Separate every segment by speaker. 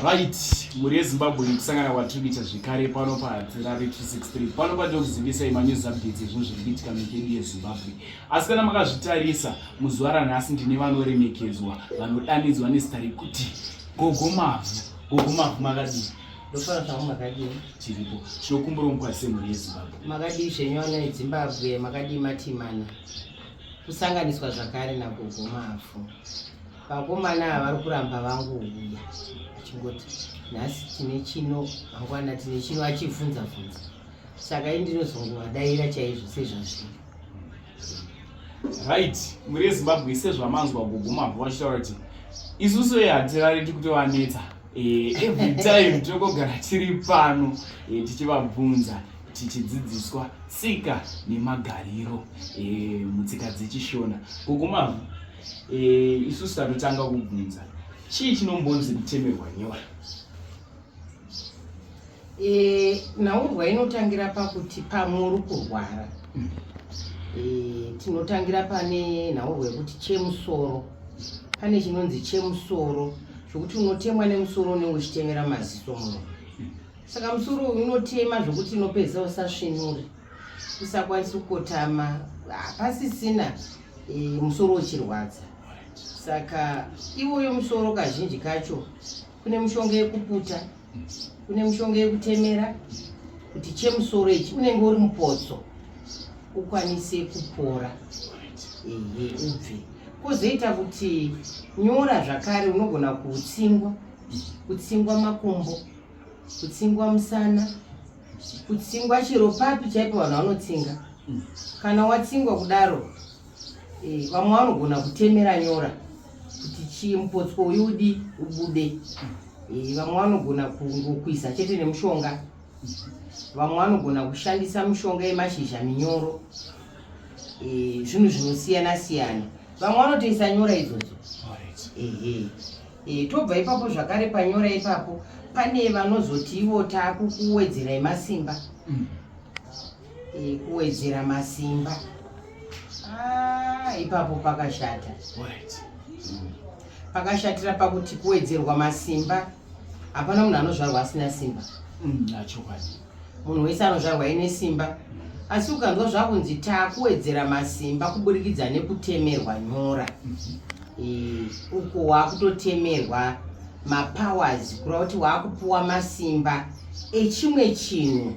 Speaker 1: right mhuri yezimbabwe nekusangana kwatiri kuita zvekare pano padzirare 263 pano patiri kuzivisai manews updates ezvinhu zviri kuitika mikedu yezimbabwe asi kana makazvitarisa muzuva ranhasi ndine vanoremekedzwa vanodanidzwa nezita rekuti gogo mavhu gogo mavhu makadii ndofana zvavo
Speaker 2: makadii tiripo
Speaker 1: tinokumbira mukwazise mhuri yezimbabwe makadii zvenyona
Speaker 2: yezimbabwe makadii matimana kusanganiswa zvakare nagogo mavhu Vakomana ava vari kuramba vangu uya achingoti nhasi tine chino mangwana tine chino achivhunza vhunza saka i ndinozongovadaira chaizvo sezvazviri
Speaker 1: right muri ezimbabwe sezvamanzwa kuguma vo vachitaura kuti isusu e hatirariti kutovanetsa eh, every time tinongogara tiri pano eh, tichivabvunza tichidzidziswa tsika nemagariro eh, mutsika dzechishona kuguma e, isusu tanotanga kubvunza chii chinombonzi kutemerwa nyora
Speaker 2: e, eh, nhaurwa inotangira pakuti pamwe uri kurwara mm. e, tinotangira pane nhaurwa yekuti chemusoro pane chinonzi chemusoro zvokuti unotemwa nemusoro unenge uchitemera maziso muno mm. saka musoro uyu unotema zvokuti unopedza usasvinure usakwanisi kukotama hapasisina e, musoro uchirwadza saka iwoyo musoro kazhinji kacho kune mushonga yekuputa kune mushonga yekutemera kuti chemusoro ichi unenge uri mupotso ukwanise kupora ehe ubve kwozoita kuti nyora zvakare unogona kutsingwa kutsingwa makumbo kutsingwa musana kutsingwa chero papi chaipo vanhu vanotsinga hmm. kana watsingwa kudaro eh, vamwe vanogona kutemera nyora kuti chii mupotso uyu udi ubude hmm. eh, vamwe vanogona kungokwisa chete nemushonga hmm. vamwe vanogona kushandisa mushonga yemashizha minyoro eh, zvinhu zvinosiyana siyana vamwe vanotoisa nyora idzodzo ehe E, tobva ipapo zvakare panyora ipapo pane vanozoti ivo takukuwedzerai masimba mm. e, kuwedzera masimba ah, ipapo pakashata mm. pakashatira pakuti kuwedzerwa masimba hapana munhu anozvarwa asina simba mm, munhu wese anozvarwa ine simba asi ukanzwa zvakunzi takuwedzera masimba kuburikidza nekutemerwa nyora e, uko wakutotemerwa mapowers kureva kuti waakupuwa masimba echimwe chinhu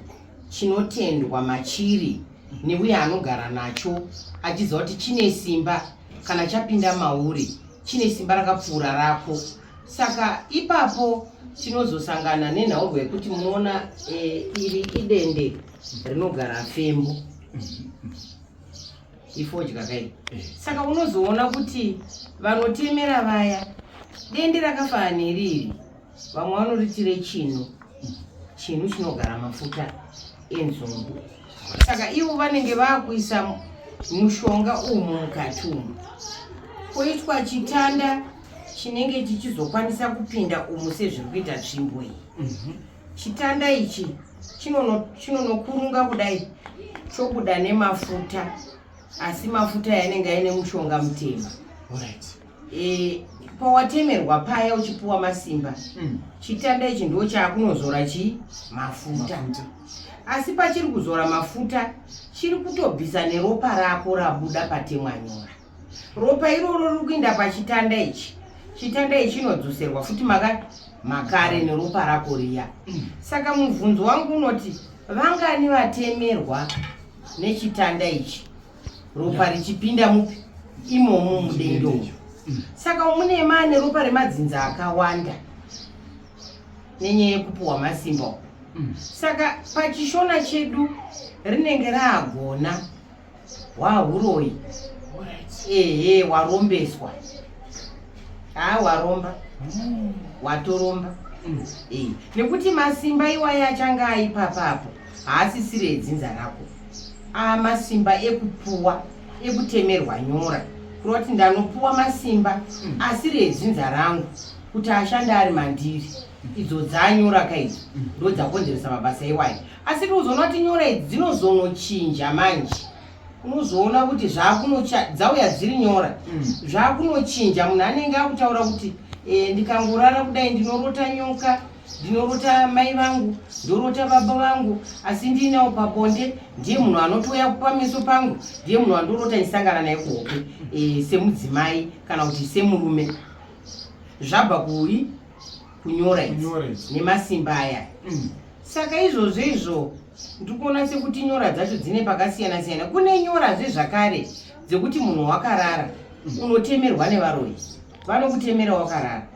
Speaker 2: chinotendwa machiri neuye anogara nacho achiziva kuti chine simba kana chapinda mauri chine simba rakapfuura rako saka ipapo tinozosangana nenhaugo yekuti munoona e, iri idende rinogara fembo ifodya kai eh. saka unozoona kuti vanotemera vaya dende rakafanana neriri vamwe vanoritire chino chinu chinogara mafuta enzungu saka ivo vanenge vakuisa mushonga umu mukati umu koitwa chitanda chinenge chichizokwanisa kupinda umu sezviri kuita tsvimbo iyi mhm. chitanda ichi chinonokurunga kudai chobuda nemafuta asi mafuta yanenge aine mushonga mutema e, pawatemerwa paya uchipuwa masimba mm. chitanda ichi ndo chaakunozora chii mafuta asi pachiri kuzora mafuta chiri kutobvisa neropa rako rabuda patemwanyora ropa iroro riri kuinda pachitanda ichi chitanda ichi chinodzoserwa futi maka makare neropa rako riya saka mubvunzo wangu unoti vangani vatemerwa nechitanda ichi ropa richipinda mupi imomo mudendo saka mune mane ropa remadzinza akawanda nenyaya yekupuhwa masimba uku saka pachishona chedu rinenge raagona hwahuroyi ehe warombeswa haa waromba hmm. watoromba hmm. eh, nekuti masimba iwaye achange aipapapo haasisire edzinza rako aa masimba ekupuwa ekutemerwa nyora kureva kuti ndanopuwa masimba hmm. asiri edzinza rangu kuti ashande ari mandiri idzo dzanyora kaidzo ndo dzakonzeresa mabasa iwayo asi tinozoona kuti nyora idzi dzinozonochinja manje unozoona kuti dzauya dziri nyora mm. zvakunochinja munhu anenge akutaura kuti eh, ndikangorara kudai ndinorota nyoka ndinorota mai vangu ndorota baba vangu asi ndiinawo pabonde ndiye munhu anotouya pameso pangu ndiye munhu andorota ndisangana naye kuhope eh, semudzimai kana kuti semurume zvabva kuyi kunyora idzi nemasimba aya mm. saka izvozvo izvo ndikuona sekuti nyora dzacho dzine pakasiyana siyana kune nyora zvezvakare dzekuti munhu wakarara mm. unotemerwa nevaroyi vanokutemera wakarara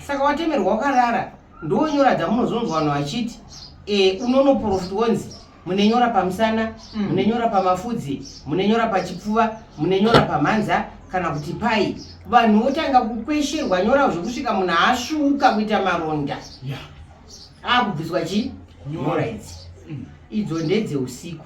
Speaker 2: saka watemerwa wakarara ndonyora dzamunozonzwa vanhu vachiti e, unonoprofit wonzi munenyora pamusana mm. munenyora pamafudzi munenyora pachipfuva munenyora pamhanza kana kuti pai vanhu votanga kukwesherwa nyora zvekusvika munhu asvuuka kuita maronda akubviswa chi nyora idzi mm. idzo ndedzeusiku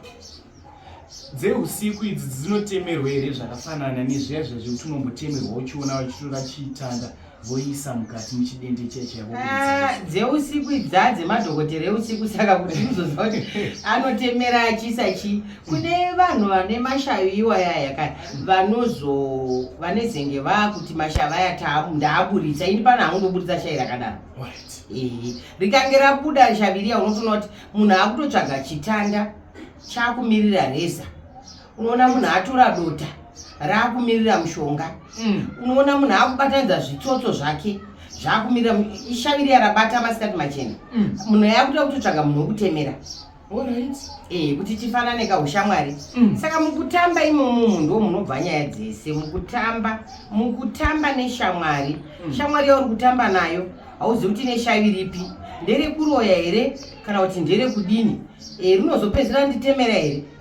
Speaker 2: dzeusiku
Speaker 1: idzi dzinotemerwa here zvakafanana nezviya zvazvekuti unombotemerwa uchiona vachitora chiitanda voisa mukati muchidende chaichaivodzeusiku
Speaker 2: ah, idza dzemadhokotera eusiku saka kuti uzoziva kuti anotemera achisa chii kune vanhu vane mashavi iwaya yaka vanozo vanezenge vakuti mashavi aya ndaaburitsa ini pano haungoburitsa shai rakadaro ehe rikange rabuda shavi riya unotoona kuti munhu akutotsvaga chitanda chakumirira reza unoona munhu atora dota raakumirira mushonga mm. unoona munhu akubatanidza zvitsotso zvake zvaakumirira ishaviri yarabata masikati machena mm. munhu yakutoda kutotsvaga munhu wekutemera eh, kuti tifanane kaushamwari mm. saka mukutamba imomo munhu wo munobva nyaya dzese mukutamba mukutamba neshamwari shamwari yauri kutamba nayo hauzivi kuti neshaviri ipi nderekuroya here kana kuti nderekudini eh, rinozopedzera nditemera here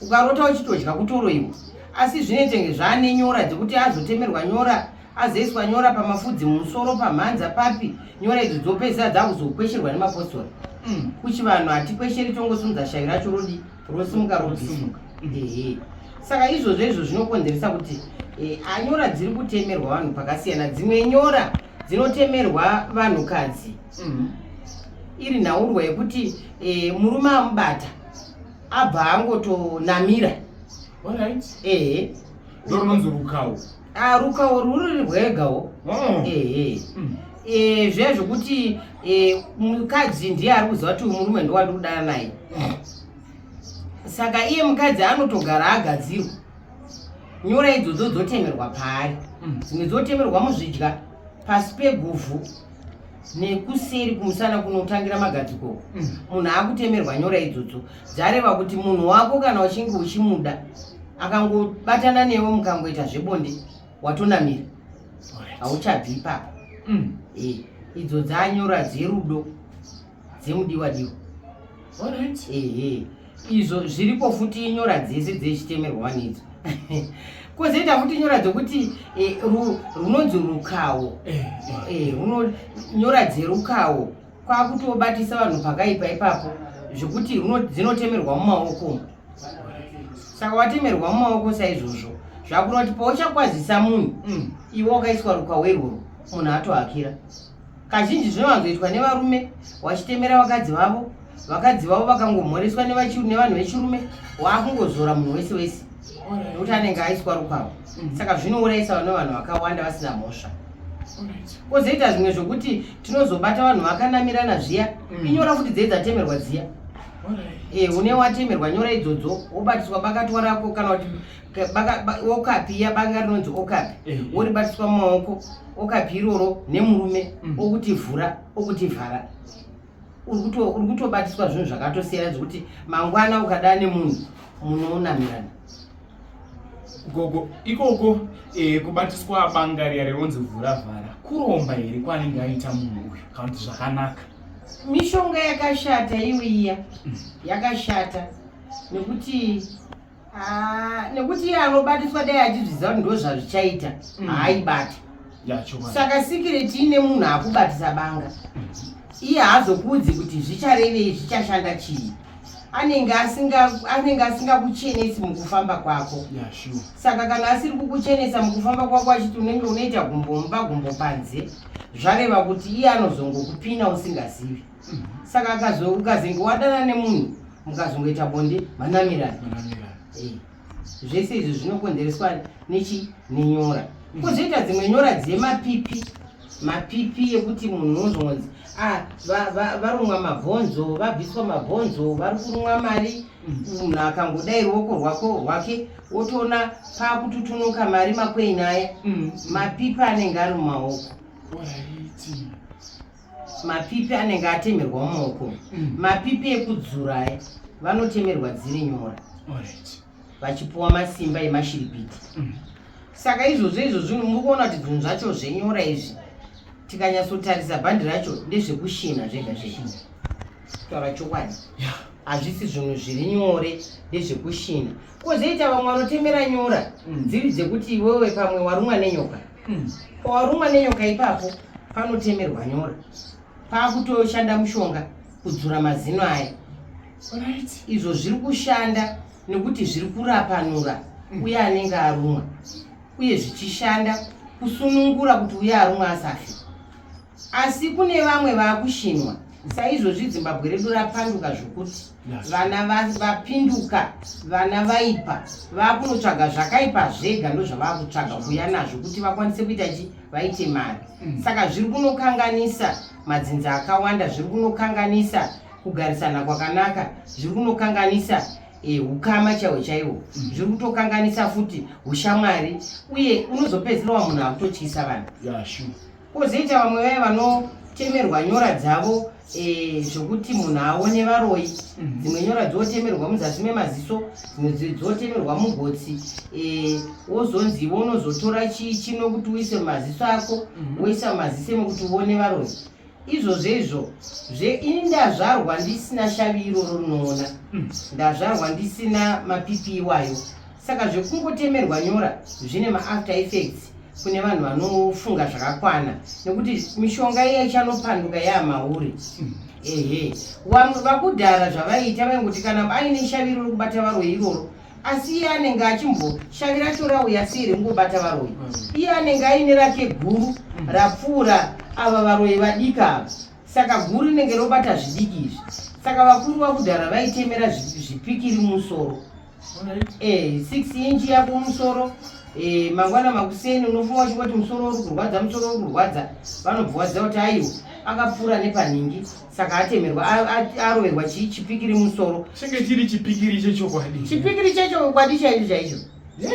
Speaker 2: ukarota uchitodya kutoroiwa asi zvine tenge zvaane nyora dzekuti azotemerwa nyora azoiswa nyora pamafudzi mumusoro pamhanza papi nyora idzo dzopedzisa dzakuzokwesherwa nemapostori mm. kuchivanhu hatikwesheri tongosimudza shavi racho rodi rosimuka rodisimuka ehe saka izvozvo izvo zvinokonzeresa kuti e, anyora dziri kutemerwa vanhu pakasiyana dzimwe nyora dzinotemerwa vanhukadzi mm. iri nhaurwa yekuti e, murume amubata abva angotonamira alright eh
Speaker 1: ndononzi rukawo ah rukawo ruri
Speaker 2: rwegawo oh. eh mm. eh zviya zvekuti eh, mukadzi ndiye ari kuziva kuti murume ndowandi kudana naye saka iye mukadzi anotogara agadzirwa nyora idzodzo dzotemerwa paari mm. dzimwe dzotemerwa muzvidya pasi peguvhu nekuseri kumusana kunotangira magadziko mm. munhu akutemerwa nyora idzodzo dzareva kuti munhu wako kana uchinge uchimuda akangobatana newe mukangoita zvebonde watonamira hauchabvi ipapa mm. eh, idzo dzanyora dzerudo dzemudiwa diwa alright ehe izvo zviripo futi nyora dzese dzechitemerwa wanidzo kozoita futi nyora dzokuti eh, runonzi rukawo eh, eh, nyora dzerukawo kwakutobatisa vanhu pakaipa ipapo zvekuti dzinotemerwa mumaoko saka watemerwa mumaoko saizvozvo zvakuda kuti pauchakwazisa munhu mm. iwe wakaiswa rukawo irworo munhu atohakira Kazhinji zvinowanzoitwa nevarume vachitemera vakadzi vavo, vakadzi vavo vakangomhoreswa nevanhu vechirume waakungozora munhu wese wese nekuti anenge aiswa rukwavo. Mm. Saka zvinourayisa vane vanhu vakawanda vasina mhosva. Kozoita zvimwe zvokuti tinozobata vanhu vakanamirana zviya, mm. inyora kuti dzei dzatemerwa dziya. Eh, une watemerwa nyora idzodzo wobatiswa bakatwa rako kana kuti okapi iya banga rinonzi okapi eh, eh. woribatiswa mumaoko okapi iroro nemurume mm. okuti vhura okuti vhara uri kutobatiswa zvinhu zvakatosiyana zvekuti mangwana ukada nemunhu munoonamirana
Speaker 1: gogo ikoko eh, kubatiswa banga riya rironzi vhura vhara kuromba here kwaanenge aita munhu uyu kana kuti zvakanaka mishonga
Speaker 2: yakashata iwe iya mm. yakashata nekuti Ah, nekuti iye anobatiswa dai achizviziva kuti ndozvazvichaita mm. haaibati saka sikireti ine munhu akubatisa banga iye haazokuudzi kuti zvicharevei zvichashanda chii anenge anenge asingakuchenesi mukufamba kwako saka kana asiri kukuchenesa mukufamba kwako achiti unenge unoita gumbomba gumbo panze zvareva kuti iye anozongokupina usingazivi saka akazo ukazenge wadana nemunhu mukazongoita bonde manamirana eh, zvese izvi zvinokonzereswa nechi nenyora mm. kozoita dzimwe nyora dzemapipi mapipi ekuti munhu unozongonzi ah, varumwa mabhonzo vabviswa mabhonzo vari kurumwa mari mm. munhu akangodai ruoko rwako rwake wotoona paakututunuka mari makwenyu aya mm. mapipi anenge ari mumaoko mapipi anenge atemerwa mumoko mm. mapipi ekudzura aya vanotemerwa dziri nyora vachipuwa masimba emashiripiti mm. saka izvozvo izvozvi muri kuona kuti zvinhu zvacho zvenyora izvi tikanyatsotarisa bhandi racho ndezvekushina zvega zvega kutaura chokwadi hazvisi zvinhu zviri nyore ndezvekushina Kozoita vamwe vanotemera nyora mm. dziri dzekuti iwewe pamwe warumwa nenyoka. Mm. Pawarumwa nenyoka ipapo panotemerwa nyora. Pakutoshanda mushonga kudzura mazino aya. Right. Izvo zviri kushanda nekuti zviri kurapanura mm. uye anenge arumwa uye zvichishanda kusunungura kuti uye arumwa asafe. Asi kune vamwe vakushinwa saizvozvi zimbabwe redu rapanduka zvokuti vana vapinduka vana vaipa vakunotsvaga zvakaipa zvega ndozvavakutsvaga kuuya nazvo kuti vakwanise kuita chi vaite mari mm. saka zviri kunokanganisa madzinza akawanda zviri kunokanganisa kugarisana kwakanaka zviri kunokanganisa eh, ukama chaiwo chaiwo mm. zviri kutokanganisa futi ushamwari uye unozopedzisira wa munhu akutotyisa vanhu Kozoita vamwe vaya vanotemerwa nyora dzavo eh, zvokuti munhu aone varoyi mhm. dzimwe nyora dzotemerwa muzasi memaziso dzimwe dzotemerwa mugotsi eh, wozonzi iwe unozotora chii chino kuti uise mumaziso ako mhm. woisa mumaziso emokuti uone varoyi izvozvo izvo zve ini ndazvarwa ndisina shavi iroro rinoona mhm. ndazvarwa ndisina mapipi iwayo saka zvekungotemerwa nyora zvine maafter effects kune vanhu vanofunga zvakakwana nekuti mishonga iya ichanopanduka yaamauri hmm. ehe vamwe vakudhara zvavaiita vaingoti kana aine shaviro rekubata varo iroro asi iye anenge achimboshavira tora uya siri ngobata varoyi mm. iye anenge aine rake guru mm. rapfuura ava varoyi vadika ava saka guru rinenge robata zvidiki izvi saka vakuru vakudhara vaitemera zvipikiri musoro Eh, six inch yako musoro eh, mangwana makuseni unofunga uchingoti musoro uri kurwadza musoro uri kurwadza vanobvuwadza kuti aiwo akapfuura nepanhingi saka atemerwa aroverwa chii chipikiri musoro chinge chiri chipikiri
Speaker 1: chechokwadi chipikiri chechokwadi
Speaker 2: chaicho chaicho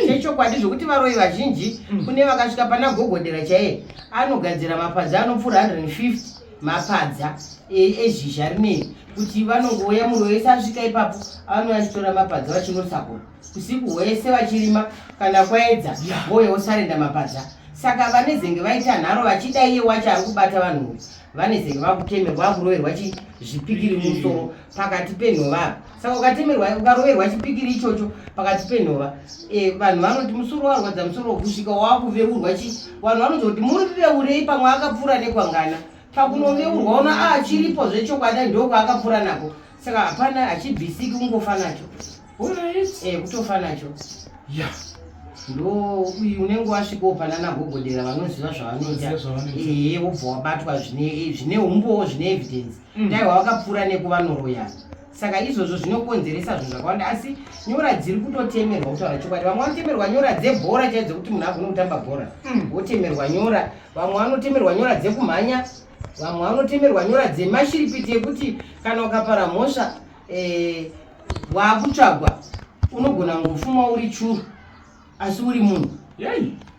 Speaker 2: chechokwadi zvekuti varoyi vazhinji mm. kune vakasvika pana gogodera chaiye anogadzira mapadza anopfuura 150 mapadza ezhizha rinei kuti vanongouya munhu wese asvika ipapo avanouya achitora mapadza vachinosakura usiku hwese vachirima kana kwaedza vouya vosarenda mapadza saka vanezenge vaita nharo vachida iye wacho ari kubata vanhu vanezenge vakutemerwa vakuroverwa chizvipikiri musoro pakati penhova apa saka ukatemerwa ukaroverwa chipikiri ichocho pakati penhova e, vanhu vanoti musoro warwadza musoro kusvika wakuveurwa chi vanhu vanoti kuti muri veurei pamwe akapfuura nekwangana pakunoveurwa una achiripo zvechokwadi ndokwaakapfuura nako saka hapana hachibvisiki kungofa nacho Eh, kutofa nacho ya ndo uyu unenge wasvika wopanana gogodera vanoziva zvavanoita ehe eh, wobva wabatwa eh, zvine umbowo zvine evidence mm. dai wavakapfuura nekuvanoroya saka izvozvo zvinokonzeresa zvinhu zvakawanda asi nyora dziri kutotemerwa kutaura chokwadi vamwe vanotemerwa nyora dzebhora chaidzo kuti munhu agone kutamba bhora mm. wotemerwa nyora vamwe vanotemerwa nyora dzekumhanya vamwe vanotemerwa nyora dzemashiripiti ekuti kana ukapara mhosva eh, wakutsvagwa unogona ngofuma uri churu asi uri munhu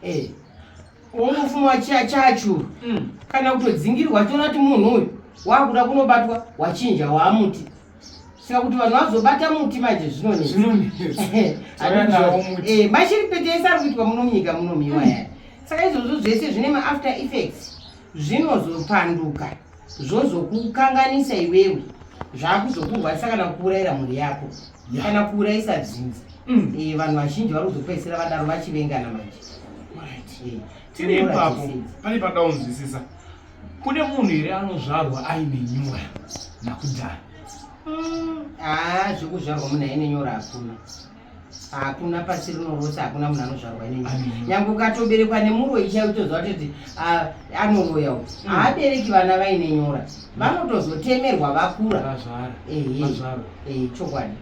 Speaker 2: eh, ungofuma chachuru mm. kana kutodzingirwa tiona kuti munhu uyu wakuda kunobatwa wachinja waamuti saka kuti vanhu vazobata muti manje zvinonetsachiri eh, pete ese ari kuitwa muno munyika muno miwa yaya saka izvozvo zvese zvine maafter effects zvinozopanduka zvozokukanganisa iwewe zvakuzokurwarisa kana kuuraira mhuri yako kana kuuraisa dzinza mm. eh, vanhu vazhinji vari kuzopedzisira vadaro vachivengana manje eh,
Speaker 1: tiri ipapo pane panoda
Speaker 2: kunzwisisa
Speaker 1: kune munhu here anozvarwa aine nyora nakudhara haa ah,
Speaker 2: zvekuzvarwa munhu aine nyora hakuna hakuna pasi rino rose hakuna munhu anozvarwa nini nyange ukatoberekwa nemuroyi chai utoziva kutoti anoroya u hmm. haabereki vana vaine nyora hmm. vanotozotemerwa vakura ehe chokwadi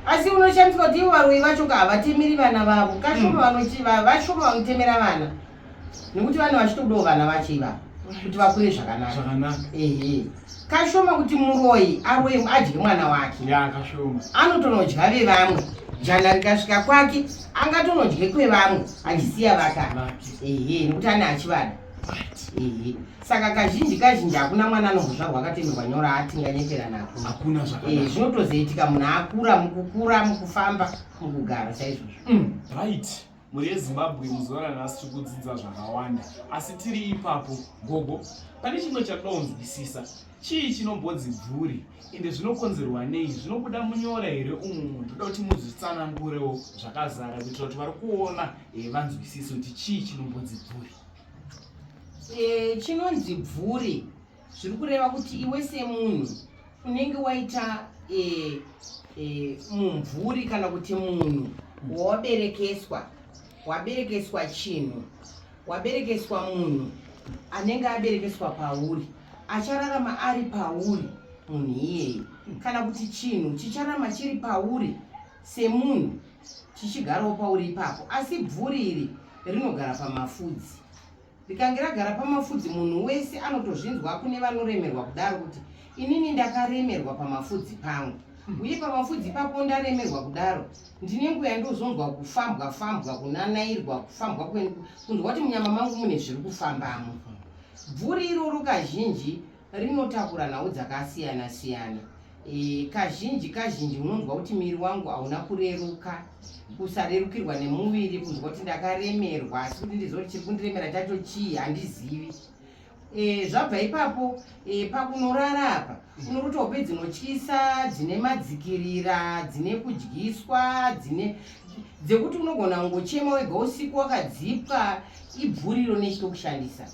Speaker 2: asi unoshandiswa kuti ivo varoyi vacho ka havatemeri vana vavo kashoma hmm. vanochivavashoma vanotemera vana nekuti vane vachitodawo vana vacho ivavo kuti vakure zvakanaka ehe kashoma kuti muroyi aroye adye mwana wake anotonodya vevamwe jana rikasvika kwake angatonodye kwevamwe achisiya vakana ehe nekuti ane achivada ehe saka kazhinji kazhinji hakuna mwana anozozvarwa akatemerwa nyora atinganyepera nako eh, zvinotozoitika munhu akura mukukura mukufamba mukugara saizvozvo mm, right
Speaker 1: mhuri yezimbabwe muzuva ranhasi tiri kudzidza zvakawanda asi tiri ipapo gogo pane chimwe chakudonzwisisa chii chinombodzi bvuri ende zvinokonzerwa nei zvinobuda munyora here umu ndoda kuti muzvitsanangurewo zvakazara kuitira kuti vari kuona eh, vanzwisise kuti chii chinombodzi bvuri eh,
Speaker 2: chinonzi bvuri zviri kureva kuti iwe semunhu unenge waita e, e, mumvuri kana kuti munhu wawaberekeswa waberekeswa chinhu waberekeswa munhu anenge aberekeswa pauri achararama ari pauri munhu iyeyi kana kuti chinhu chichararama chiri pauri semunhu chichigarawo pauri ipapo asi bvuri iri rinogara pamafudzi rikange ragara pamafudzi munhu wese anotozvinzwa kune vanoremerwa kudaro kuti inini ndakaremerwa pamafudzi pangu hmm. uye pamafudzi ipapo ndaremerwa kudaro ndine nguva yandozonzwa kufambwa fambwa kunanairwa kufambwa kunzwa kuti munyama mangu mune zviri kufambamo bvuri iroro kazhinji rinotakura nhau dzakasiyana siyana e, kazhinji kazhinji unonzwa kuti miri wangu hauna kureruka kusarerukirwa nemuviri kunzwa kuti ndakaremerwa asi kuti ndiziva kuti chiri kundiremera chacho chii handizivi e, zvabva ipapo e, pakunorara apa unokuti hope dzinotyisa dzine madzikirira dzine kudyiswa dzine dzekuti unogona kungochema wega usiku wakadzipwa ibvuriro nechitokushandisa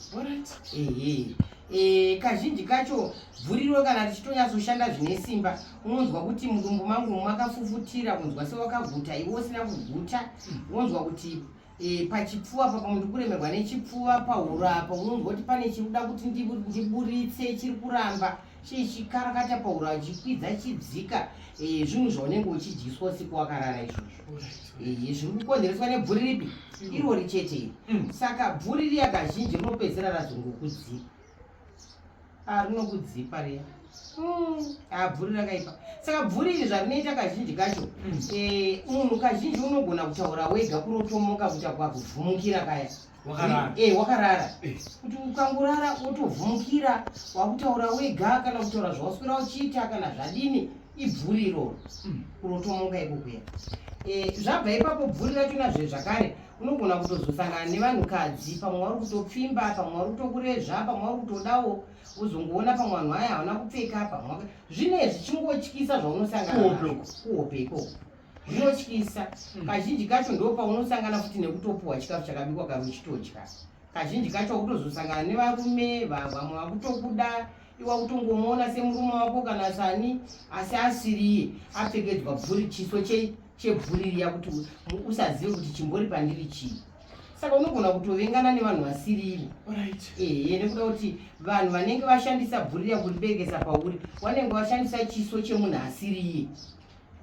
Speaker 2: ehe E, kazhinji kacho bvuriro kana richitonyatsoshanda zvine simba unonzwa kuti mudumbu mangu makafufutira kunzwa sewakaguta iwe usina kuguta unonzwa kuti e, pachipfuva papa munhu kuremerwa nechipfuva pahuro apa unonzwa kuti pane chiri kuda kuti ndiburitse chiri kuramba chichikarakata pahuro achikwidza chidzika e, zvinhu zvaunenge uchidyiswa usiku wakarara izvozvo izvi zviri kukonzereswa nebvuri ripi mm. irori chete iri mm. saka bvuri riya kazhinji rinopedzera razongokudzipa ah, rinokudzipa riya mm. ah, bvuri rakaipa saka bvuri iri zvarinoita kazhinji kacho eh, munhu kazhinji unogona kutaura wega kurotomoka kuita kwakuvhumukira kaya wakarara eh, eh wakarara eh. kuti ukangurara wotovhumukira wakutaura wega kana kutaura zvawaswera uchiita kana zvadini ibvuri iroro hmm. unotomuka ikukuya eh, zvabva ipapo bvuri racho nazve zvakare unogona kutozosangana nevanhukadzi pamwe wari kutopfimba pamwe wari kutokurezva pamwe wari kutodawo uzongoona pamwe vanhu vaya havana kupfeka pamwe zvine zvichingotyisa zvaunosangana kuhope ikoko zvinotyisa hmm. kazhinji kacho ndo paunosangana futi nekutopuhwa chikafu chakabikwa kari uchitodya kazhinji kacho wakutozosangana nevarume vamwe vakutokuda iwa kutongomuona semurume wako kana sani asi asiriye apfekedzwa bvuri chiso chebvuri riya kuti usazive kuti chimbori pandiri chii saka unogona kutovengana nevanhu vasiriri ehe nekuda kuti vanhu vanenge vashandisa bvuri riya kuriberekesa pauri wanenge washandisa chiso chemunhu asiriye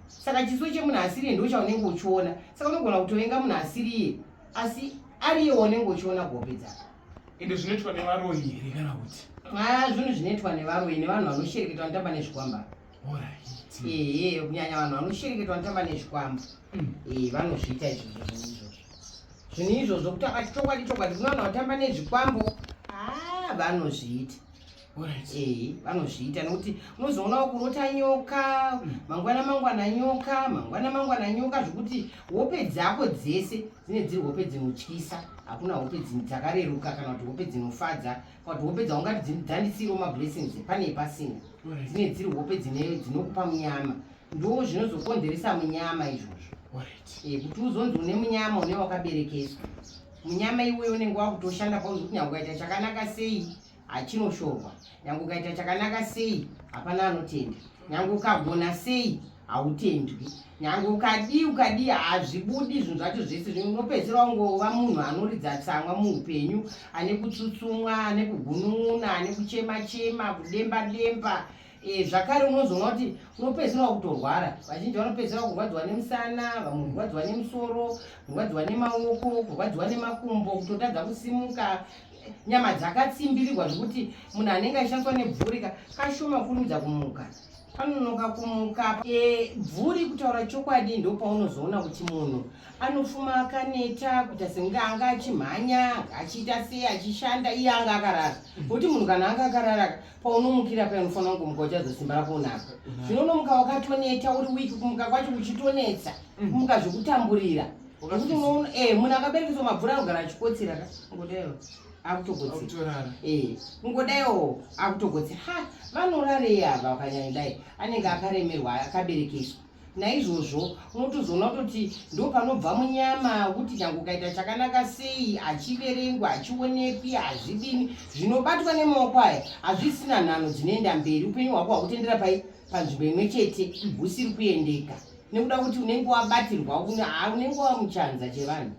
Speaker 2: saka chiso chemunhu asiriye ndo chaunenge uchiona saka unogona kutovenga munhu asiriye asi ariye waunenge uchiona gope dzako ende zvinoitwa
Speaker 1: nevaroyi here kana kuti aa zvinhu zvinoitwa
Speaker 2: nevaroyi nevanhu vanoshereketa vanotamba nezvikwamba ehe kunyanya vanhu vanoshereketa vanotamba nezvikwamba hmm. ee vanozviita izvozvo zvinhu izvozvo zvinhu izvozvo kutamba chokwadi chokwadi kuno vanhu vatamba nezvikwambo aa vanozviita Eh, vanozviita nokuti unozoona kurota nyoka hmm. mangwana mangwana nyoka mangwana mangwana nyoka zvekuti hope dzako dzese dzine dziri hope dzinotyisa hakuna hope dzakareruka kana kuti hope dzinofadza kana kuti hope dzaungati dzandisiiro mablessings pane pasina dzine dziri hope dzinokupa munyama ndo zvinozokonzeresa munyama izvozvo eh, kuti uzonzi une munyama une wakaberekeswa munyama iweyo unenge wakutoshanda pauzokuti nyange ukaita chakanaka sei hachinoshorwa nyange ukaita chakanaka sei hapana anotenda nyange ukagona sei hautendwi nyange ukadii ukadii hazvibudi zvinhu zvacho zvese zvimwe unopedzisira ungova munhu anoridza tsamwa muupenyu ane kutsutsumwa ane kugunun'una ane kuchema chema kudemba demba e, zvakare unozoona kuti unopedzisira wakutorwara vazhinji vanopedzisira kurwadziwa nemusana vamwe kurwadziwa nemusoro kurwadziwa nemaoko kurwadziwa nemakumbo kutotadza kusimuka nyama dzakatsimbirirwa zvekuti munhu anenge achishandiswa nebvurika kashoma kurumidza kumuka panonoka kumuka e, bvuri kutaura chokwadi ndopaunozoona kuti munhu anofuma akaneta kuita senge anga achimhanya achiita sei achishanda iye anga akarara nokuti munhu kana anga akarara paunomukira paya unofanira kungomuka uchazosimba rako unako zvino unomuka wakatoneta uri wiki kumuka kwacho kuchitonetsa mm. kumuka zvekutamburira eh, munhu akaberekeswa mabvura anogara achikotsira ka ngodayo akutokotsira eh, ngodayo akutokotsira ha vanorarei ava vakanyanyidai anenge akaremerwa akaberekeswa naizvozvo unotozoona kutoti ndo panobva munyama kuti nyange ukaita chakanaka sei achiverengwa achionekwi hazvidini zvinobatwa nemaoko aya hazvisina nhano dzinoenda mberi upenyu hwako hwakutendera pai panzvimbo imwe chete husiri kuendeka nekuda kuti unenge wabatirwa unenge wamuchanza chevanhu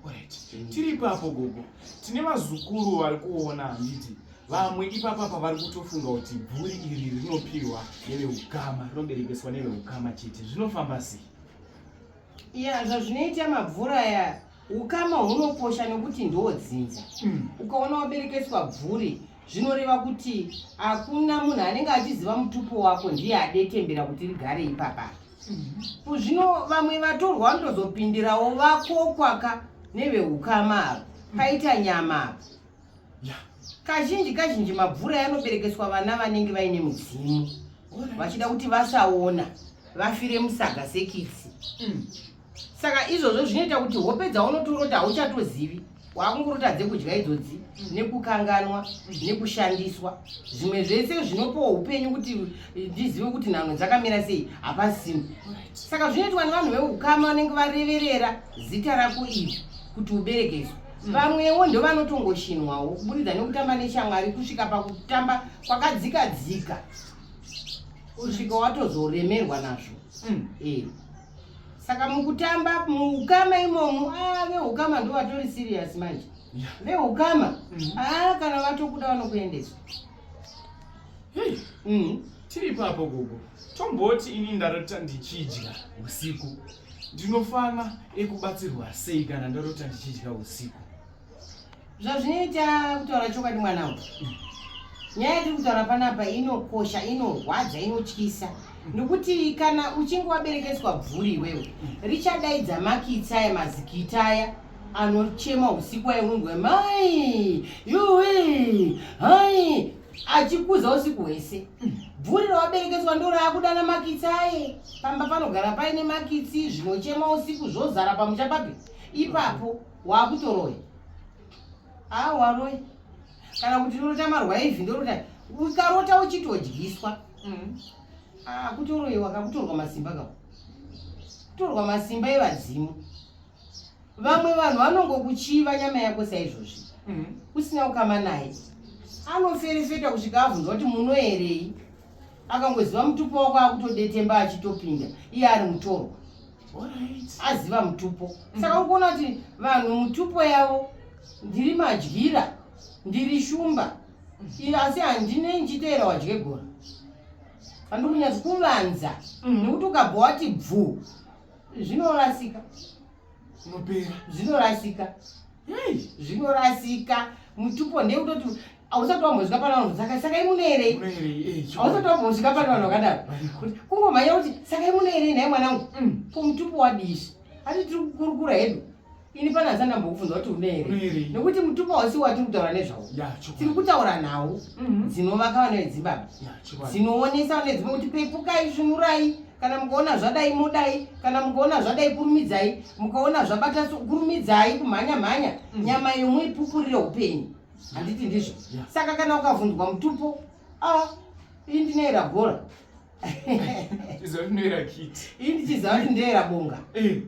Speaker 2: mm.
Speaker 1: tiri ipapo gogo tine vazukuru vari kuona handiti vamwe ipapa pavari kutofunga kuti bhuri iri rinopiwa neveukama rinoberekeswa neveukama chete zvinofamba sei iya zvazvinoita
Speaker 2: mabvura aya yeah. Ukama hunokosha nokuti ndiwo dzinza. Mm. Ukaona waberekeswa bvuri zvinoreva kuti hakuna munhu anenge achiziva mutupo wako ndiye adetembera kuti rigare ipapa. Mm. Zvino vamwe vatorwa vanotozopindirawo vakokwaka neveukama ava paita nyama apa. Yeah. Kazhinji kazhinji mabvura yanoberekeswa vana vanenge vaine mudzimu vachida kuti vasaona vafire musaga sekitsi. Mm. saka izvozvo zvinoita kuti hope dzaunotorota hauchatozivi waakungorota dzekudya idzodzi nekukanganwa nekushandiswa zvimwe zvese zvinopawo upenyu kuti ndizive kuti nhano dzakamira sei hapasini saka zvinoitwa nevanhu veukama vanenge vareverera zita rako iri kuti uberekeswa vamwewo ndovanotongoshinwawo kuburidza nekutamba neshamwari kusvika pakutamba kwakadzika dzika kusvika watozoremerwa nazvo mm. e. saka mukutamba muukama imomo ah, veukama ndo vatori serious manje veukama mm. ah, kana vatokuda vanokuendesa
Speaker 1: mm. tiri ipapo gogo tomboti ini ndarota ndichidya usiku ndinofana ekubatsirwa sei kana ndarota ndichidya usiku zvazvinoita
Speaker 2: kutaura chokwadi mwana uyu nyaya yatiri kutaura panapa inokosha inorwadza inotyisa nokuti kana uchinge waberekeswa bvuri iwewe richadaidza makitsa aya mazikita aya anochema usiku aye unonzwa mai yuwe hai achikuza usiku hwese bvuri rawaberekeswa ndo raakudana makitsi aye pamba panogara paine makitsi zvinochema usiku zvozara pamuchapapi ipapo wakutoroya aa waroya kana kuti ndorota marwaivi ndorota ukarota uchitodyiswa mm. aa kutoroiwa kakutorwa masimba ka kutorwa masimba evadzimu vamwe vanhu vanongokuchiva nyama yako saizvozvi mm. usina kukama naye anoferefeta kusvika avhunza kuti munoerei akangoziva mutupo wako akutodetemba achitopinda iye ari mutorwa aziva mutupo mm. saka ukuona kuti vanhu mutupo yavo ndiri madyira ndiri shumba mm. asi handine ndichiteera wadye gora handikunyatsi kuvanza mm. nekuti ukabva wati bvu zvinorasika zvinorasika zvinorasika mutupo ndekutoti hausati wambosvika pano vanhu saka sakai muno here eh, hausati wambosvika pano vanhu vakadaro kungomhanya kuti sakai muno here nhai mwanangu mm. kumutupo wadishi ati tiri kukurukura hedu ini pane asi andambokubvunza kuti une here nekuti mutupo hausi watiri kutaura nezvawo tiri kutaura nhau mhm. dzinovaka vana vedzibaba dzinoonesa vana vedzibaba kuti pepukai svunurai kana mukaona zvadai mudai kana mukaona zvadai kurumidzai mukaona zvabata kurumidzai kumhanya mhanya mm. nyama yomuipupurire upenyu handiti ndizvo yeah. saka kana ukavhundwa mutupo ah, ii ndinoera bhora
Speaker 1: ii ndichiziva kuti ndeera
Speaker 2: bonga eh.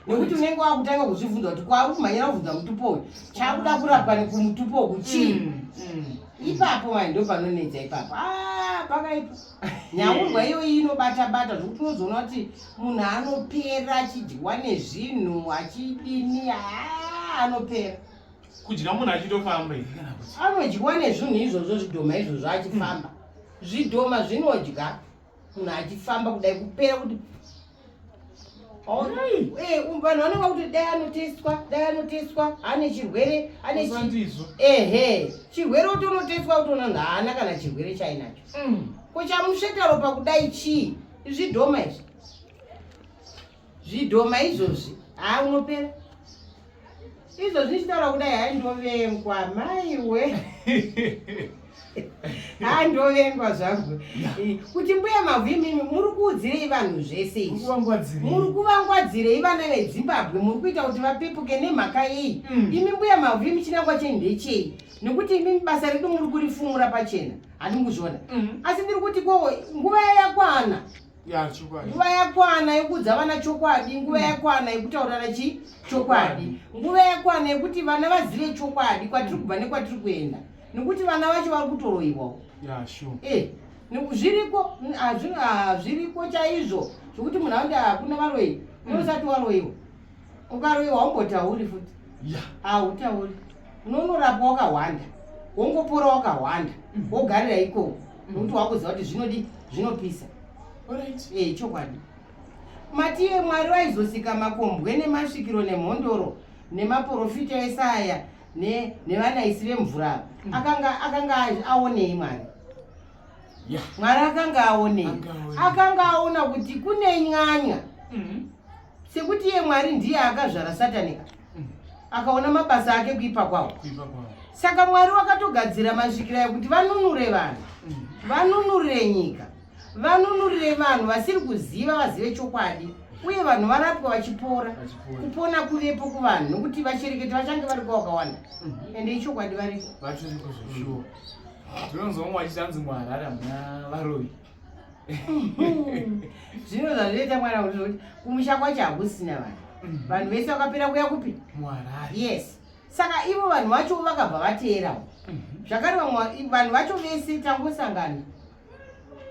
Speaker 2: nekuti unenge wakutanga kuzvivhunza kuti kwauri kumhanyira kuvhunza mutupo uyu chakuda kurapwa nekumutupo uku chii mm, mm. ipapo mai ndo panonetsa ipapo ah, pakaipa nyaurwa iyoyi inobata bata zvokuti unozoona kuti munhu anopera achidyiwa nezvinhu achidini ah, anopera kudya
Speaker 1: munhu achitofamba here kana kuti anodyiwa nezvinhu
Speaker 2: izvozvo zvidhoma izvozvo achifamba zvidhoma zvinodya munhu achifamba kudai kupera kuti eh, um, vanhu vanonga kuti dai anotestwa dai anotestwa ane chirwere ane ehe chirwere utonotestwa utoona nhu haana kana chirwere chainacho mm. ko chamusvetaro pakudai chii zvidhoma izvi zvidhoma izvozvi haa unopera izvozvi ndichitaura kudai hai ndovengwa maiwe haa ndovengwa zvangu kuti mbuya mavhu imimi muri kuudzirei vanhu zvese izvi muri kuvangwadzirei vana vedzimbabwe muri kuita kuti vapepuke nemhaka yei mm. imi mbuya mavhu imi chinangwa chei ndechei nekuti imimi basa redu muri kurifumura pachena handinguzviona mm. asi ndiri kuti ko nguva yakwana nguva yakwana yekuudza vana chokwadi nguva yakwana yekutaurana chi chokwadi nguva yakwana yekuti vana vazive chokwadi kwatiri kubva nekwatiri kuenda nekuti vana vacho vari kutoroiwawo eh, zviriko hazviriko chaizvo zvekuti munhu aunde hakuna varoyi unosati waroiwa ukaroiwa haumbotauri futi hautauri unonorapwa wakahwanda wongopora wakahwanda mm. wogarira ikoko mm. nokuti wakuziva kuti zvinodi zvinopisa eh, chokwadi matiye mwari vaizosika makombwe nemasvikiro nemhondoro nemaporofita ese aya nevanaisi vemvura mm. akanga akanga aonei mwari mwari akanga aonei akanga aona kuti kune nyanya mm-hmm. sekuti iye mwari ndiye akazvara satani ka mm. akaona mabasa ake kuipa kwavo saka mwari wakatogadzira masvikira ekuti vanunure vanhu mm. vanunurire nyika vanunurire vanhu vasiri kuziva vazive chokwadi uye vanhu varapwa vachipora kupona kuvepo kuvanhu nokuti vachereketi vachange vari kwavakawanda mm. ende ichokwadi variko
Speaker 1: tinonzwa mumwe vachichanzi muharare hamuna varoyi
Speaker 2: zvino zvazvinoita mwana kuti zvokuti kumusha kwacho hakusina vanhu mm-hmm. vanhu vese vakapera kuya kupi muharare yes
Speaker 1: saka
Speaker 2: ivo vanhu vacho vakabva vateerawo mm-hmm. zvakare vamwe vanhu vacho vese tangosangana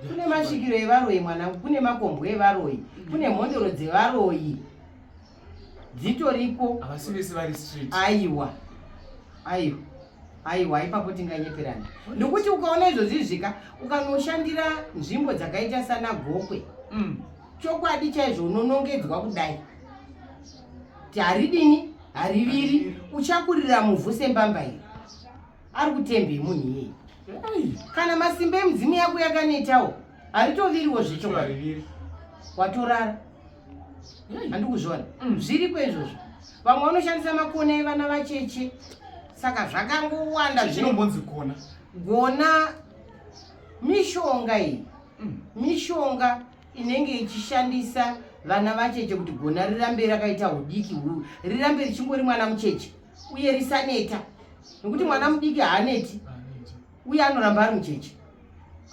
Speaker 2: kune masvikiro evaroyi mwanangu kune makombwe evaroyi kune mhondoro dzevaroyi dzitoriko havasi vese vari street
Speaker 1: aiwa aiwa
Speaker 2: aiwa ipapo tinganyeperana ndokuti ukaona izvozvi zvika ukanoshandira nzvimbo dzakaita sana gokwe mm. chokwadi chaizvo unonongedzwa kudai ti haridini hariviri uchakurira muvhu sembamba iri ari kutembei munhu iyeye kana masimba emudzimu yako yakanetawo haritoviriwo zvechokwadi watorara andikuzviona mm. zviriko izvozvo vamwe vanoshandisa makona evana vacheche saka zvakangowanda zvinombonzi gona
Speaker 1: gona
Speaker 2: mishonga iyi mm. mishonga inenge ichishandisa vana vacheche kuti gona rirambe rakaita udiki huu rirambe richingori mwana mucheche uye risaneta nokuti mwana mudiki haaneti uye anoramba ari mucheche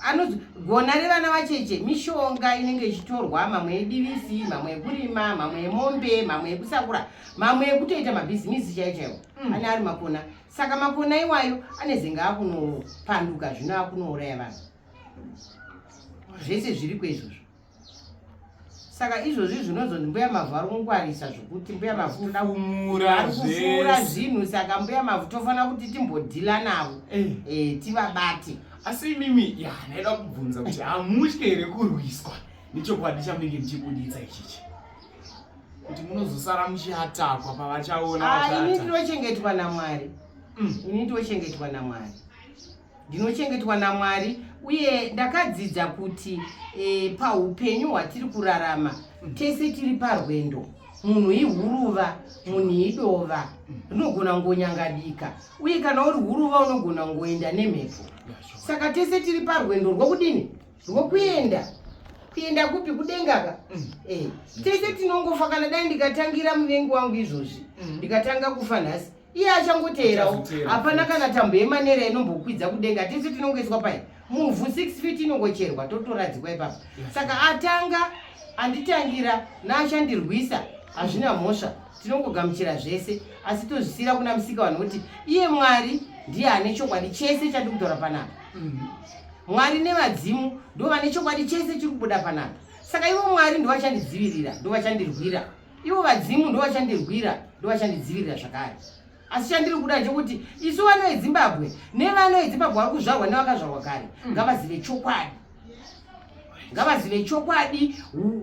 Speaker 2: anonzi gona revana vacheche mishonga inenge ichitorwa mamwe yedivisi mamwe yekurima mamwe yemombe mamwe yekusakura mamwe yekutoita mabhizimisi chai chaiwo mm. ane ari makona saka makona iwayo anezenge akunopanduka zvino akunouraya vanhu zvese zviri kweizvozvo saka izvozvi zvinonzi mbuya mavhu ari kungwarisa zvokuti mbuya mavhu toda kumura ari kufura zvese zvinhu saka mbuya mavhu tofanira kuti timbodhila navo Eh, eh, tivabate asi imimi
Speaker 1: ya ndaida kubvunza kuti hamutye here kurwiswa nechokwadi chamunenge muchibuditsa ichichi kuti munozosara muchiatakwa pavachaona Ah, ini vachata ndinochengetwa
Speaker 2: namwari Mm. ini ndinochengetwa namwari ndinochengetwa namwari uye ndakadzidza kuti e, paupenyu hwatiri kurarama tese tiri parwendo munhu ihuruva munhu idova rinogona ngonyangadika uye kana uri huruva unogona ngoenda nemhepo saka tese tiri parwendo rwokudini rwokuenda kuenda kupi kudengaka mm. e, tese tinongofa kana dai ndikatangira muvengi wangu izvozvi mm. ndikatanga kufa nhasi iye achangoteerawo hapana kana tambo yemanera inombokwidza kudenga tisu tinongoiswa pai muvhu 6 feet inongocherwa totoradzikwa ipapo saka atanga anditangira naachandirwisa hazvina mhosva tinongogamuchira zvese asi tozvisiyira kuna musika vanhu kuti iye mwari ndiye ane chokwadi chese chati kutaura panapa mhm. mwari nevadzimu ndo vane chokwadi chese chiri kubuda panapa saka ivo mwari ndovachandidzivirira ndovachandirwira ivo vadzimu ndovachandirwira ndovachandidzivirira zvakare asi chandiri kuda ndechekuti isu vana vezimbabwe nevana vezimbabwe vari kuzvarwa nevakazvarwa kare mm. ngavazive chokwadi ngavazive chokwadi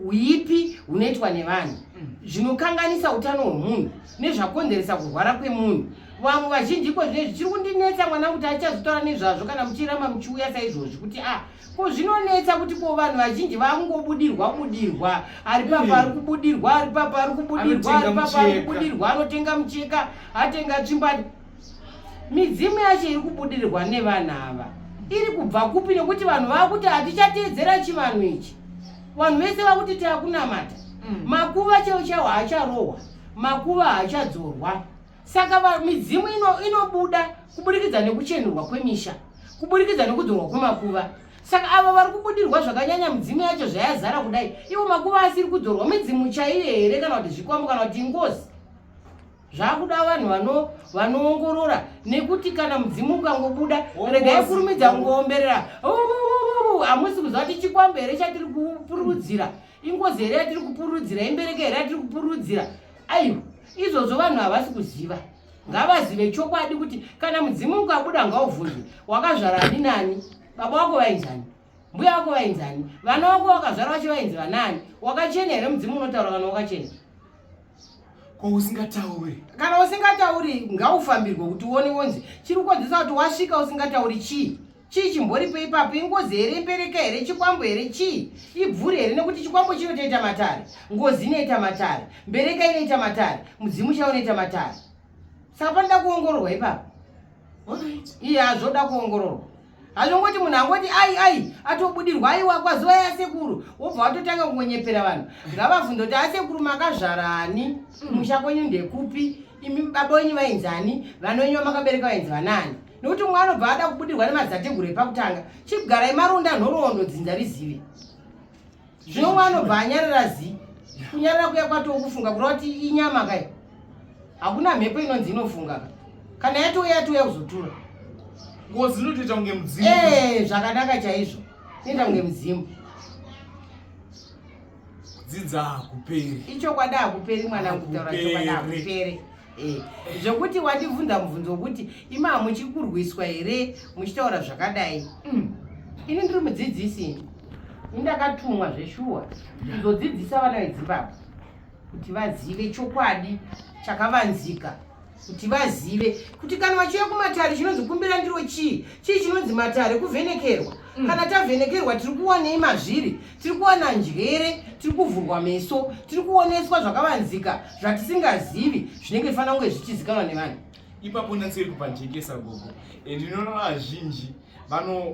Speaker 2: uipi hunoitwa nevanhu mm. zvinokanganisa utano hwemunhu nezvakonzeresa kurwara kwemunhu vamwe vazhinji iko zvine zvichiri kundinetsa mwana kuti achazotaura nezvazvo kana muchiramba muchiuya saizvozvi kuti a ah, ko zvinonetsa kuti ko vanhu vazhinji vakungobudirwa budirwa ari papa ari kubudirwa ari papa ari kubudirwa ari papa ari kubudirwa anotenga mucheka atenga tsvimbati midzimu yacho iri kubudirirwa nevanhu ava iri kubva kupi nekuti vanhu vakuti hatichateedzera chivanhu ichi vanhu vese vakuti takunamata mm. makuva cheo chawo haacharohwa makuva haachadzorwa saka midzimu ino inobuda kuburikidza nekuchenurwa kwemisha kuburikidza nekudzorwa kwemakuva saka avo vari kubudirwa zvakanyanya midzimu yacho zvayazara kudai ivo makuva asiri kudzorwa midzimu chaiyo here kana kuti zvikwambo kana kuti ingozi zvakuda vanhu vanoongorora nekuti kana mudzimu ukangobuda regai kurumidza kungoomberera hamusi kuziva kuti chikwambo here chatiri kupurudzira ingozi here yatiri kupurudzira imbereke here yatiri kupurudzira aiwa izvozvo vanhu havasi kuziva ngavazive chokwadi kuti kana mudzimu ukabuda ngauvhunzwe wakazvara ani nani baba wako vainzani mbuya wako vainzani vana wako vakazvara vacho vainzi vanaani wakachena here mudzimu unotaura kana wakachena
Speaker 1: ko usingatauri kana usingatauri
Speaker 2: ngaufambirwe kuti uone wonzi chiri kukonzesa kuti wasvika usingatauri chii chii chimboripo ipapo ingozi here imbereka here chikwambo here chii ibvuri here nekuti chikwambo chinotoita matare ngozi inoita matare mbereka inoita matare mudzimu chavo unoita matare saka panoda kuongororwa ipapo iye hazvoda kuongororwa hazvongoti munhu angoti ai ai atobudirwa aiwa kwazuva yasekuru wobva watotanga kungonyepera vanhu ngavavhunza kuti asekuru makazvarani mm. musha kwenyu ndekupi imi baba wenyu vainzani vana wenyu vamakabereka vainzi vanani nokuti umwe anobva ada kubudirwa nemazateguru epakutanga chibgarai marunda nhoroondo dzinza rizive zvino umwe anobva anyarara zi kunyarara kuya kwatoo kufunga kureva kuti inyama kai hakuna mhepo inonzi inofunga ka kana yatouya yatouya kuzotura ngozi
Speaker 1: inotoita kunge mudzimu ee eh, zvakanaka
Speaker 2: chaizvo inoita kunge mudzimu kudzidza
Speaker 1: hakuperi ichokwadi hakuperi
Speaker 2: mwana kutaura chokwadi hakuperi Eh, zvekuti wandibvunza mubvunzo wekuti imaa muchikurwiswa here muchitaura zvakadai mm. ini ndiri mudzidzisi ini indakatumwa zveshuwa kuzodzidzisa vana vedzimbabwe kuti vazive chokwadi chakavanzika kuti vazive kuti kana vachiuya kumatare chinonzi kumbira ndiro chii chii chinonzi matare kuvhenekerwa mm. kana tavhenekerwa tiri kuwanei mazviri tiri kuwana njere tiri kuvhurwa meso tiri kuoneswa zvakavanzika zvatisingazivi zvinenge zvifanira kunge zvichizikanwa nevanhu ipapo natsiri
Speaker 1: kupajekesa gogo and inoona vazhinji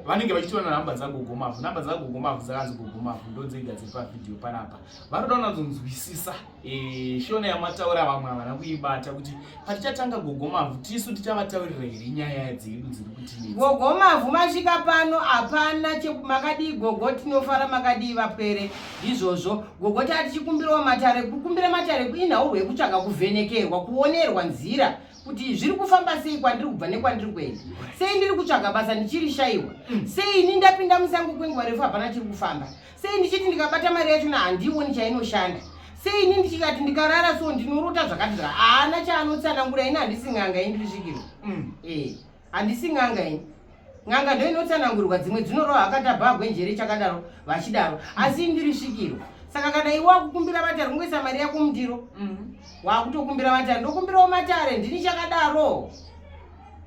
Speaker 1: vanenge vachitora namba dzagogo mavhu namba dzagogo mavhu dzakanzi gogo mavhu ndodzega dziri pavhidhiyo panapa vanoda unazonzwisisa Eh, shona yamataura vamwe havana kuibata kuti patichatanga gogomavhu tisu tichavataurira here nyaya dzedu dziri kuti gogomavhu masvika
Speaker 2: pano hapana chekumakadii gogo tinofara makadii vapwere ndizvozvo gogo taa tichikumbirawo matare kukumbira matare kuinhawo rwekutsvaga kuvhenekerwa kuonerwa nzira kuti zviri kufamba sei kwandiri kubva nekwandiri kuenda sei ndiri kutsvaga basa ndichiri shaiwa mm. sei ini ndapinda musango kwenguva refu hapana chiri kufamba sei ndichiti ndikabata mari yachona handioni chainoshanda sei ini ndichikati ndikarara so ndinorota zvakati zvaka haana chaanotsanangura ini handisi n'anga ini ndisvikiro mm. eh, handisi n'anga ini n'anga ndo inotsanangurwa dzimwe dzinorowa akatabhagwe njere chakadaro vachidaro asi ndiri svikiro saka kana iwe wakukumbira vatari kungoisa mari yako mundiro mm. wakutokumbira vatari ndokumbirawo matare ndini chakadaro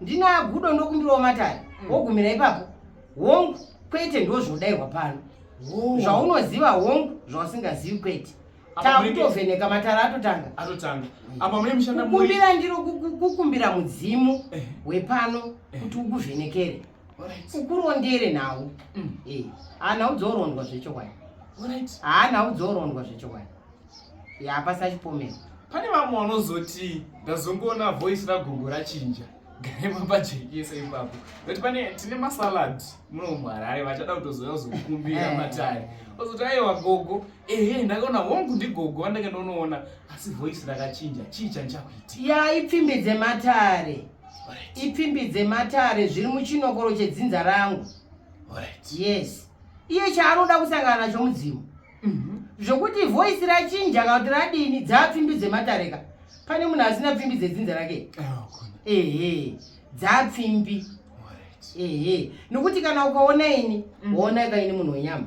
Speaker 2: ndinagudo ndokumbirawo matare mm. wogumira ipapo hongu kwete ndozvodairwa pano zvaunoziva hongu zvausingazivi kwete takutovheneka matara atotanga atotanga apa mune mushanda
Speaker 1: kukumbira ndiro
Speaker 2: kukumbira mudzimu eh. wepano eh. kuti ukuvhenekere ukurondere nhau mm. eh. haanhau dzourondwa zvechokwadi haanhau dzourondwa zvechokwadi
Speaker 1: yapasachipomera
Speaker 2: pane
Speaker 1: vamwe vanozoti ndazongoona
Speaker 2: voice
Speaker 1: ragogo rachinja garema pajekesa ipapo but pane tine masalad muno muharare vachada kutozouya kuzokumbira eh. matare ozoti aiwa gogo ehe ndakaona hongu ndigogo vandake ndonoona asi voice rakachinja chii chandichakuita ya ipfimbi
Speaker 2: dzematare ipfimbi dzematare zviri muchinokoro chedzinza rangu yes iye chaanoda kusangana nacho mudzimu Mhm. zvokuti voice rachinja kana kuti radini dzaapfimbi dzematareka pane munhu asina pfimbi dzedzinza rake ehe dzaapfimbi ehe nokuti kana ukaona ini mm. waona kaini munhu wenyama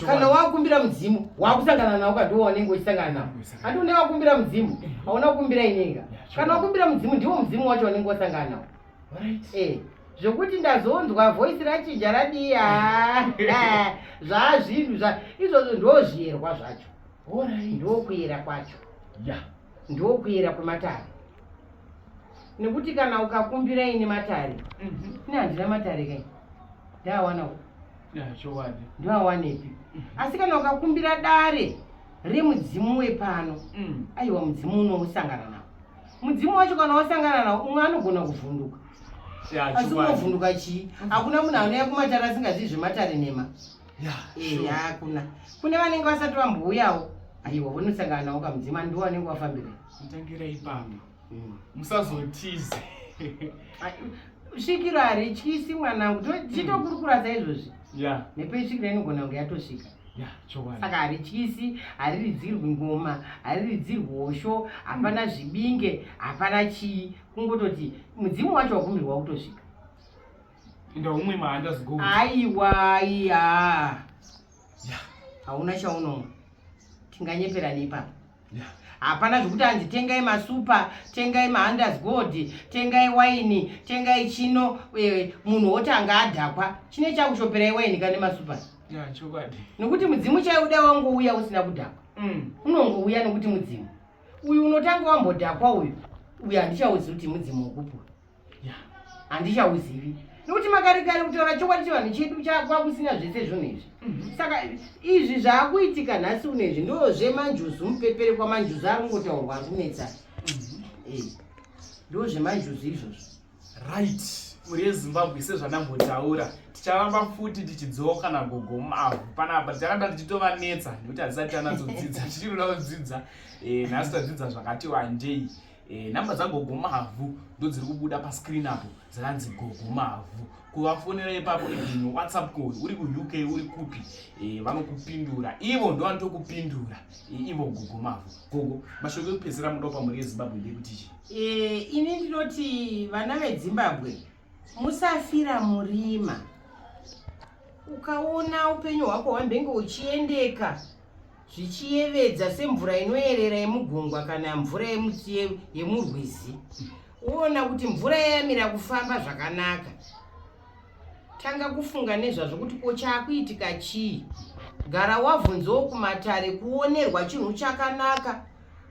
Speaker 2: kana wakumbira mudzimu wakusangana nawo kadiwa wanenge uchisangana nawo handi une wakumbira mudzimu hauna kukumbira inenga kana wakumbira mudzimu ndiwo mudzimu wacho wanenge wasangana nawo eh, zvokuti ndazonzwa voice rachinja radiya eh, zvaazvinhu zva izvozvo ndozviyerwa zvacho ndokuyera kwacho ndokuyera kwematare nekuti kana ukakumbira ini matare mhm. ini handina matare kai ndaawana ndoawanepi mhm. asi kana ukakumbira dare remudzimu wepano mm. aiwa mudzimu unousangana nao mudzimu wacho kana wasangana nawo umwe anogona kuvhunduka asi unovhunduka chii hakuna munhu anouya kumatare asingazivi zvematare nhema ehe hakuna kune vanenge vasati vambouyawo aiwa vonosangana nawo kamudzima ndiwo anenge wafambira mutangira ipapo
Speaker 1: hmm. musazotize
Speaker 2: svikiro harityisi mwanangu tichitokurukura saizvozvi nepeisvikiro inogona kunge yatosvika saka harityisi hariridzirwi ngoma hariridzirwi hosho hapana hmm. zvibinge hapana chii kungototi mudzimu wacho wakumirwa kutosvika
Speaker 1: ndaumwe maandasgo aiwa
Speaker 2: iya hauna chaunomwa tinganyeperana ipapo hapana zvekuti hanzi tengai masupa tengai mahanders gold tengai waini tengai chino e, munhu woti anga adhakwa chine chakushoperai waini kane masupa nokuti mudzimu chaiuda wangouya usina kudhakwa mm. unongouya nokuti mudzimu uyu unotanga wambodhakwa uyu uyu handichauzi kuti mudzimu wokupura handichauzivi nokuti makarekare kutaura chokwadi chevanhu chedu chakwakusina zvese zvinhu izvi mhm. saka izvi zvaakuitika nhasi uno izvi ndo zvemanjuzu mupepere kwamanjuzu ari kungotaurwa ari kunetsa mhm. eh, ndo zvemanjuzu izvozvo right
Speaker 1: mhuri yezimbabwe sezvandambotaura ticharamba futi tichidzoka nagogo mavhu panapa ticharamba tichitovanetsa nekuti hatisati tanatsodzidza tichirikuda kudzidza eh, nhasi tadzidza zvakati wandei Eh, namba dzagogo mavhu ndodziri kubuda pascreen apo dzakanzi gogo mavhu kuvafonera ipapo even whatsapp call uri kuuk uri kupi eh, vanokupindura ivo ndovanotokupindura eh, ivo gogo mavhu gogo mashoko ekupedzisira mudopa mhuri yezimbabwe ndekuti chii ini
Speaker 2: ndinoti vana vezimbabwe Musafira murima. Ukaona upenyu hwako hwambenge uchiendeka zvichiyevedza semvura inoyerera yemugungwa kana mvura yemurwizi woona kuti mvura yayamira kufamba zvakanaka tanga kufunga nezvazvo kuti ko chaakuitika chii gara wavhunzawo kumatare kuonerwa chinhu chakanaka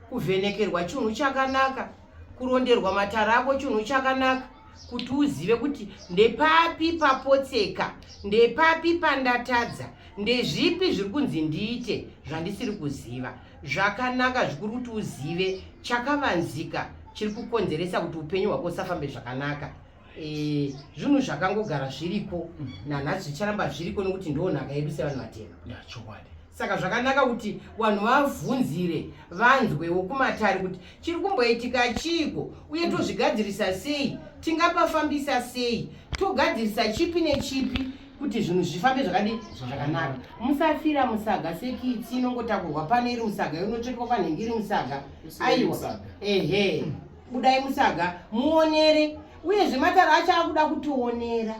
Speaker 2: kuvhenekerwa chinhu chakanaka kuronderwa matara ako chinhu chakanaka kuti uzive kuti ndepapi papotseka ndepapi pandatadza ndezvipi zviri kunzi ndiite zvandisiri kuziva zvakanaka zvikuri kuti uzive chakavanzika chiri kukonzeresa kuti upenyu hwako usafambe zvakanaka Eh, zvinhu zvakangogara zviriko mm. nanhasi zvicharamba zviriko nekuti ndoo nhaka yedu sevanhu vatema chokwadi saka zvakanaka kuti vanhu vavhunzire vanzwewo kumatare kuti chiri kumboitika chiiko uye mm. tozvigadzirisa sei tingapafambisa sei togadzirisa chipi nechipi kuti zvinhu zvifambe zvakadi zvakanaka musafira musaga sekitsi inongotakurwa pane iri musaga yonotsvetwa panhengi iri musaga aiwa ehe mm. budai musaga muonere uyezve matare acho akuda kutionera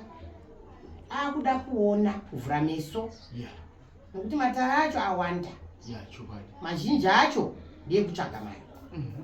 Speaker 2: akuda kuona kuvhura meso nekuti matare acho awanda mazhinji acho ndeyekutsvaga mari mhm.